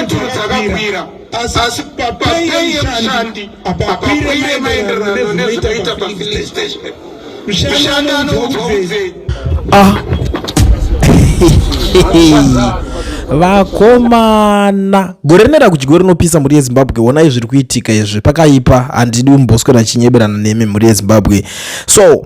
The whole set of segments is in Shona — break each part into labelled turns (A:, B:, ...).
A: dzakakwira asi papei yemushandi apakwire maenderano nezvinoita pafilling
B: station mushandi anoudzwa udzei ah. vakomana gore rinoenda kudyiwa rinopisa mhuri yezimbabwe wonai zviri kuitika izvi pakaipa handidi umboswera chinyeberana nemi mhuri yezimbabwe so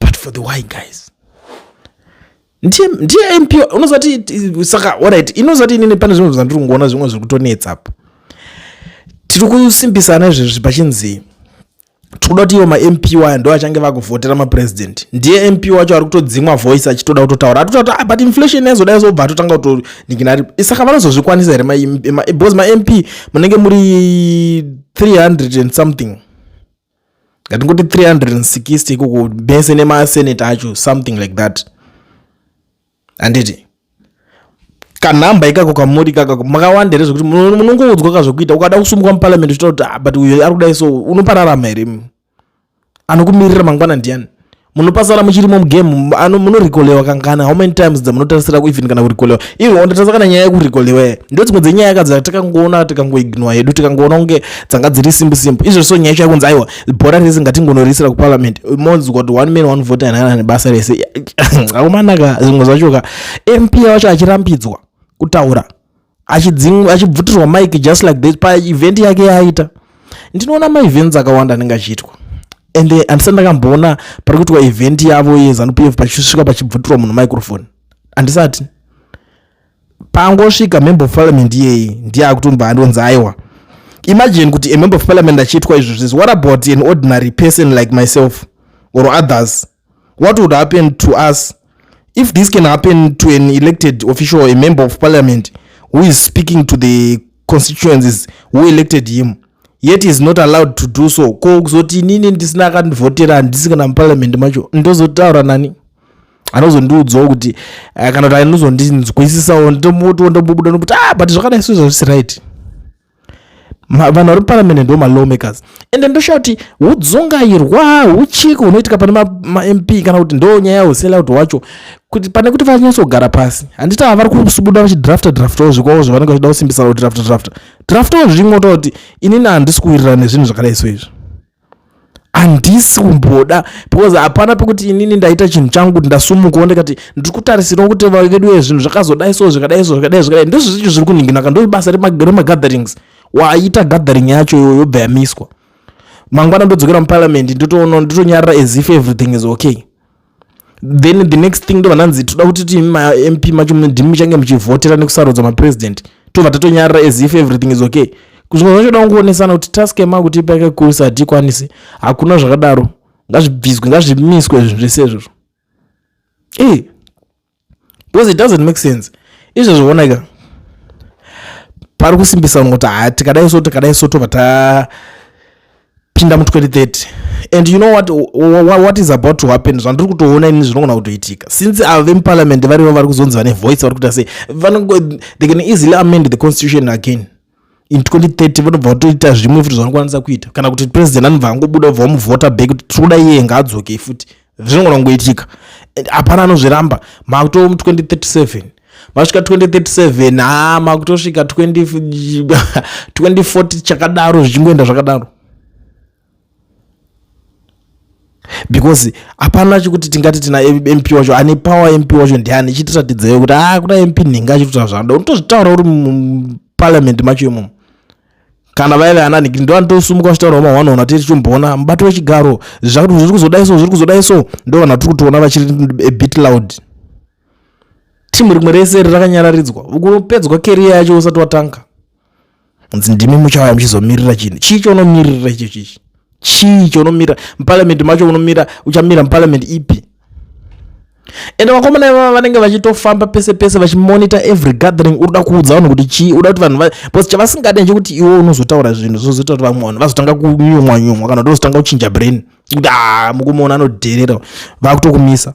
B: but for the why guys ndiye ndiye mp unozati saka orit inozati inini pane zvimwe zvandiri kungoona zvimwe zviri kutonetsa apa tiri kusimbisana izvezvi pachinzi tikuda kuti ivo mamp waya ndo achange vakuvhotera mapresident ndiye mp wacho ari kutodzimwa voice achitoda kutotaura ari kutaura ah, but inflation yazoda yazobva atotanga kutonikinaa saka vanozozvikwanisa here because mamp munenge muri 300 and something ngatingoti 360 ikoko mese nemasenate acho something like that handiti kanhamba ikako kamuri ikaka makawanda here zvekuti munongoudzwa ka zvekuita ukada kusumuka muparliament uchita kuti ah, but uyo ari kudai so unopararama here anokumirira mangwana ndiani munopasara muchirimo mugame ano munorikolewa kangana how many times dzamunotarisira kuivin kana kurikolewa ivo ondatasa kana nyaya yekurikolewa ndo dzimwe dzenyaya ka dzatakangoona tikangoignwa hedu tikangoona kunge dzanga dziri simbu simbu izvo so nyaya chaya kunzi aiwa bhora rese ngatingonorisira kuparliament monzi kuti one man one vote anana nebasa rese aumanaka zvimwe zvachoka mp wacho achirambidzwa kutaura achidzingwa achibvutirwa mike just like this paevent yake yaaita ndinoona maevents akawanda anenge achiitwa and eh, andisati ndakamboona pari kuitwa event yavo yezanup f pachisvika pachibvutirwa munhu microphone andisati pangosvika member of parliament iyeyi ndiye akutomba andonzi aiwa imagine kuti a member of parliament achiitwa izvozvizvi what about an ordinary person like myself or others What would happen to us if this can happen to an elected official, a member of parliament who is speaking to the constituencies who elected him? yet is not allowed to do so ko kuzoti inini ndisina akandivhotera handisi kana muparliament macho ndozotaura nani anozondiudzawo kuti eh, kana kuti anozondinzwisisawo ndomutowo ndomubuda nokuti ah but zvakanaiso zvazvisi right vanhu vari muparamende ndo malawmakers and ndoshaa kuti hudzungairwa huchiko hunoitika pane mamp kana kuti ndo nyaya yehuselaut wacho kuti pane kuti vanyatsogara pasi handiti ava vari kusubuda vachidrafta draftawo zvikwawo zvavanenge vachida kusimbisa kudrafta drafta draftawo zvirimwo toa kuti inini handisi kuwirirana nezvinhu zvakadai so izvi handisi kumboda because hapana pekuti inini ndaita chinhu changu kuti ndasumukawo ndikati ndiri kutarisirawo kuti vedu uye zvinhu zvakazodai so zvikadai so zvikadai zvakadai ndizvo zvicho zviri kuninginaka ndo basa remagatherings waita gathering yacho iyoyo yobva yamiswa mangwana ndodzokera muparliament ndotoono ndotonyarira as if everything is okay then the next thing ndo vananzi toda kuti tiimi mamp macho ndimi muchange muchivhotera nekusarudza mapresident tobva tatonyarira as if everything is okay zvimwe zvacho da kungoonetsana kuti task yema kuti ipa yakakurisa hatikwanisi hakuna zvakadaro ngazvibviswe ngazvimiswe zvinhu zvese izvozvo e because it doesn't make sense izvo zvioneka pari kusimbisa kuti ha tikadai so tikadai so tobva tapinda mu 2030 and you know what, what is about to happen zvandiri kutoona ini zvinogona kutoitika since avo vemuparliament varivo vari kuzonzi vane voice vari kuita sei they can easily amend the constitution again in 2030 vanobva vatoita zvimwe futi zvanokwanisa kuita kana kuti president anobva angobuda obva wamuvhota back kuti tiri kuda iye ngaadzokei futi zvinogona kungoitika hapana anozviramba makuto 2037 masvika 2037 ha makutosvika 2040 chakadaro zvichingoenda zvakadaro because hapana chekuti tingati tina mp wacho ane power mp wacho ndiani chitiratidzeyo kuti a ah, kuda mp nhingi achitotaura zvanoda unotozvitaura uri muparliament macho imomo kana vaive ana nhingi ndo anotosumuka uchitaura uma one ona tiri chomboona mubato wechigaro zvakuti zviri kuzoda so zviri kuzoda so ndo vanhu vatiri kutoona vachiri a bit loud timu rimwe rese ri rakanyararidzwa kunopedzwa keriya yacho usati watanga ndimi muchauya muchizomirira chinhu chii chonomirira icho chichi chii chonomira muparliament macho unomira uchamira muparliament ipi ende vakomana ivava vanenge vachitofamba pese pese vachimonitor every gathering uri da kuudza vanhu kuti chii uda kuti vanhu bcause chavasingade nchekuti iwe unozotaura zvinhu zvozoita kuti vamwe vanhu vazotanga kunyumwa nyumwa kana kuti vazotanga kuchinja brain kuti a ah, mukumuona anodherera vakutokumisa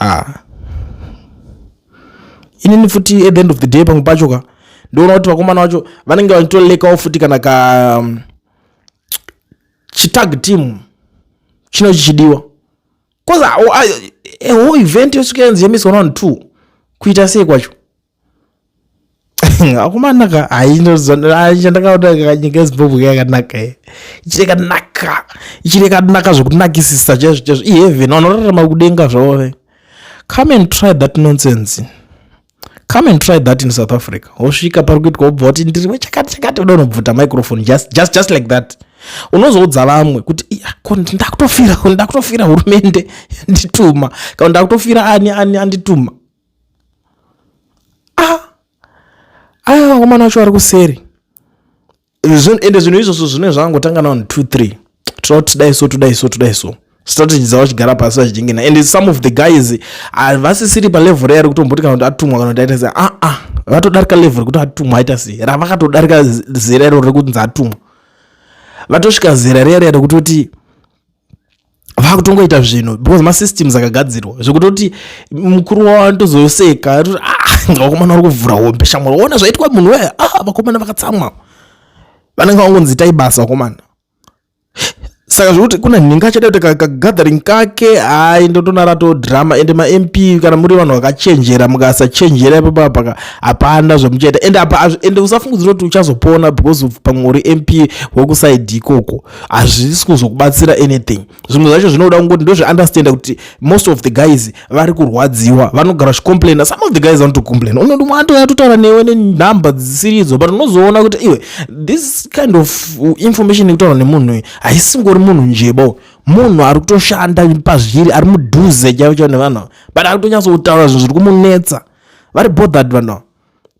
B: ah. inini futi at the end of the day pamwe pacho ka ndoona kuti vakomana vacho vanenge vachitolekawo futi kana ka um, chitag team chino chichidiwa bcause a whole event yosvika yanzi yamiswa navanhu two kuita sei kwacho akomana ka haichandakaona nyika yezimbabwe yakanaka ye ichiri kanaka ichiri kanaka zvekunakisisa chaizvo chaizvo iheaven vanorarama kudenga zvavove come and try that nonsense come and try that in south africa wosvika pari kuitwa wobva woti ndiri wechakati chakati uda unobvuta microphone just, just, just like that unozoudza vamwe kuti ko ndakutofira ndakutofira hurumende yandituma kana ndakutofira ani ani andituma ah aya ah, vakomana vacho vari kuseri ende zvinhu izvozvo zvine zvakangotanga na 23 toda kuti tidai so todai so todai so strategy dzavo chigara pasi vachidingina and some of the guys havasisiri palevel reari kutomboti kana kuti atumwa kana kuti aita sei aa ah, vatodarika level rekuti atumwa aita sei ravakatodarika zera iro rekunzi atumwa vatosvika zera riya riya rekutoti vakutongoita zvinhu because masystems akagadzirwa zvekutoti mukuru wavo anotozoseka atoti ah, vakomana vari kuvhura hombe shamwari waona zvaitwa munhu wee ah, vakomana vakatsamwa vanenge vangonzi itai basa vakomana saka zvekuti kuna nhinga achada kuti kagathering kake hai ndotonara to drama ende mamp kana muri vanhu vakachenjera mukasachenjera ipapa paka hapana zvemuchaita ende apa ende usafungidzira kuti uchazopona because of pamwe uri mp wekusaidi ikoko hazvisi kuzokubatsira anything zvimwe zvacho zvinoda kungoti ndozviunderstanda kuti most of the guys vari kurwadziwa vanogara vachicomplaina some of the guys vanotocomplaina unoti mwato yatotaura newe nenhamba dzisiridzo but unozoona kuti iwe this kind of information yekutaura nemunhu uyu haisingori munhu njebo munhu ari kutoshanda pazviri ari mudhuze chaivo chaivo nevanhu but ari kutonyatsoutaura zvinhu zviri kumunetsa vari bothered vanhu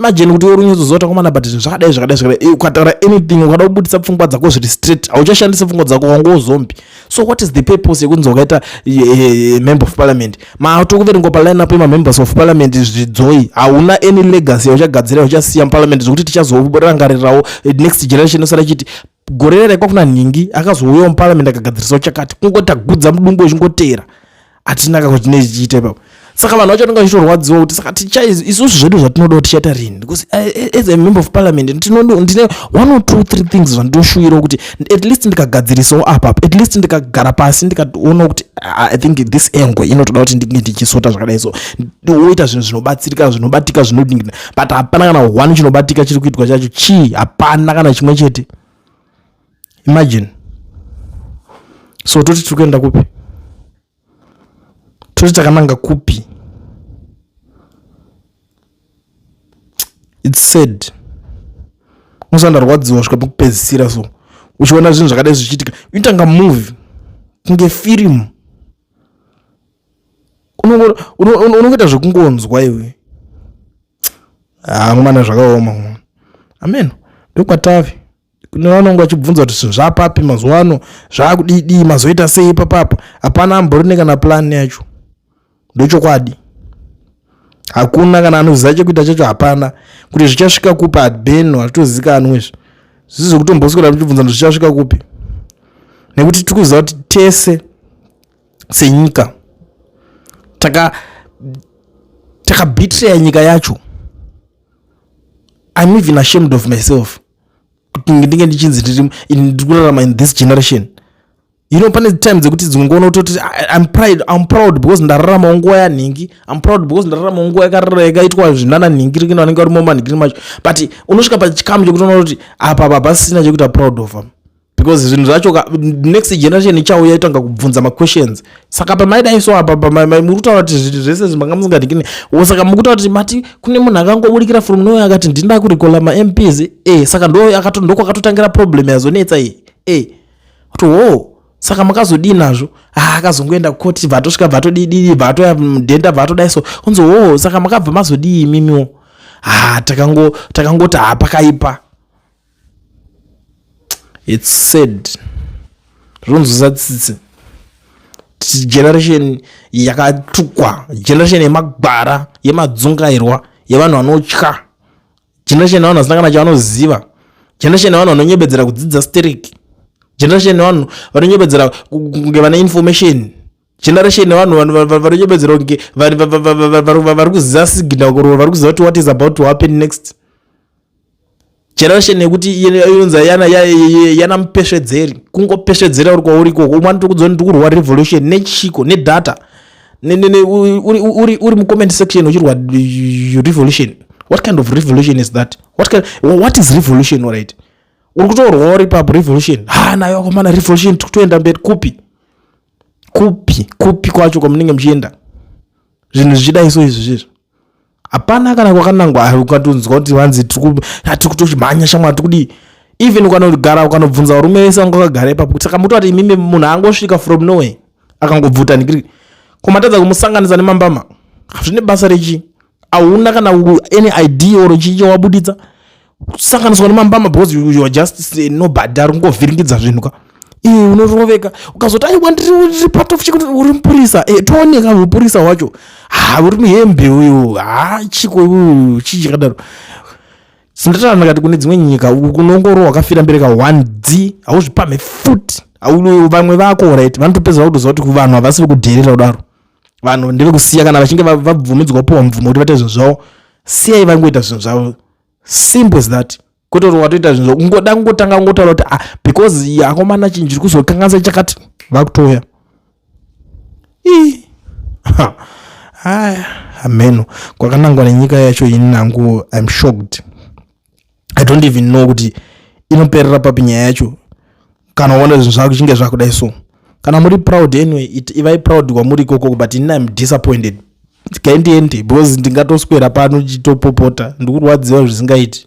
B: imagine kuti worunyatsoziva takomana but zvinhu zvakadai zvakadai zvakadai eh, ukataura anything ukada kubudisa pfungwa dzako zviri straight hauchashandise pfungwa dzako wanga wozombi so what is the purpose yekunzi wakaita eh, eh, member of parliament maatokuverengwa paline apo emamembers of parliament zvidzoi hauna any legacy yauchagadzira yauchasiya muparliament zvekuti tichazorangarirawo next generation osara chiti gore raikwa kuna nhingi akazouyawo muparamende akagadzirisawo chakati kungoti agudza mudumbu wechingoteera hatina kako chine chichiita ipapo saka vanhu vacho vanenge vachitorwadziwa kuti saka isusu zvedu zvatinodawo tichaita rini because eh, eh, as a member of parliament ndine one or two three things zvandinoshuvirawo kuti at least ndikagadzirisawo apa at least ndikagara pasi ndikaona kuti ah, i think this angle inotoda kuti ndinge ndichisota zvakadai so woita zvinhu zvinobatsirika zvinobatika zvinodingina but hapana kana one chinobatika chiri kuitwa chacho chii hapana kana chimwe chete imagine so toti tiri kuenda kupi toti takananga kupi its sad musandarwadziwa svika pakupedzisira so uchiona zvinhu zvakadai zvichiitika uitanga movie kunge firimu unongoita zvekungonzwa iwe hamwana ah, zvakaoma mwana ameno ndokwatave kune vanonge vachibvunza kuti zvinhu zvapapi mazuva ano zvaakudidii mazoita sei papapa hapana amborine kana plani yacho ndochokwadi hakuna kana anoziva chekuita chacho hapana kuti zvichasvika kupi hadbeno hazvitozikanwe izvi zvisi zvekutomboswera tichibvunza kuti zvichasvika kupi nekuti tiri kuziva kuti tese senyika taka takabitreya nyika yacho im even ashamed of myself kuti ndinge ndichinzi ndiri ndiri kurarama in this generation you know pane time dzekuti dzimwe ngoona kutoti im pride im proud because ndararamawo nguva yanhingi im proud because ndararamawo nguva yakarara yakaitwa zvinana nhingi rikina vanenge vari momanhingiri macho but unosvika pachikamu chekuti unoona kuti apa baba sina chekuita proud of am because zvinhu zvacho next generation ichauya itanga kubvunza maquestions saka pamaidaiso apa pamuri kutaura kuti zviti zvese zvi manga musingadikini o saka muri kutaura kuti mati kune munhu akangobudikira from noe akati ndinda kurikola mamps e eh, saka ndokwakatotangira problem yazonetsa iyi e eh, kuti hoo saka makazodii nazvo ah, akazongoenda kukoti vatosvika vatodidii vatoya mudhenda vatodaiso onzi hoo saka makabva mazodii imimiwo ah, takangoti takangoti hapakaipa its sad zvinonzwisa tsitsi generation yakatukwa generation yemagwara yemadzungairwa yevanhu vanotya generation yevanhu vasina kana chavanoziva generation yevanhu vanonyebedzera kudzidza stereki generation yevanhu vanonyebedzera kunge vane information generation yevanhu vanonyebedzera kunge vari kuziva signal kurova vari kuziva kuti what is about to happen next generation yekuti inonzi yana mupesvedzeri kungopesvedzera uri kwauri ikoko umwe anoti kudzoni ndi kurwa revolution nechiko nedata uri mucomment section uchirwa revolution what kind of revolution is that what, kind, what is revolution right uri kutorwa uri papo revolution ha ah, nayo akomana revolution tikutoenda mberi kupi kupi kupi kwacho kwamunenge muchienda zvinhu zvichidai so izvi zvizvo hapana kana kwakanangwa ukatonzwa kuti vanzi tiri kutochimhanya shamwari tiri kudii even ukanogara ukanobvunza varume vese vanga vakagara ipapo kuti saka mutoti imimi munhu angosvika from noway akangobvuta nigiri komatadza kumusanganisa nemambama hazvine basa rechii ahuna kana any idea or chii chawabuditsa kusanganiswa nemambama because you are just eh, nobody ari kungovhiringidza zvinhu ka iwe unoroveka ukazoti aiwa ndiri part of chikuti uri mupurisa e, tooneka mupurisa wacho ha uri muhembe uyu ha chiko uyu chii chakadaro sindataura ndakati kune dzimwe nyika unongoro wakafira mberi ka one d hauzvipamhe futi vamwe vako right vanotopedzera kutoziva kuti vanhu havasi vekudherera kudaro vanhu ndevekusiya kana vachinge vabvumidzwa kupiwa mvumo kuti vate zvinhu zvavo siyai vangoita zvinhu zvavo simple as that kototi watoita zvinhu zvavo kungoda kungotanga kungotaura kuti ah, because yakomana chinhu chiri kuzokanganisa chakati vakutouya haya hameno kwakanangwa nenyika yacho ini nangu im shocked i don't even know kuti inoperera papi nyaya yacho kana uona zvinhu zvako chinge zvakudai so kana muri proud anyway ivai proud kwamuri ikoko but ini im disappointed gaindiende because ndingatoswera pano chitopopota ndikurwadziwa zvisingaiti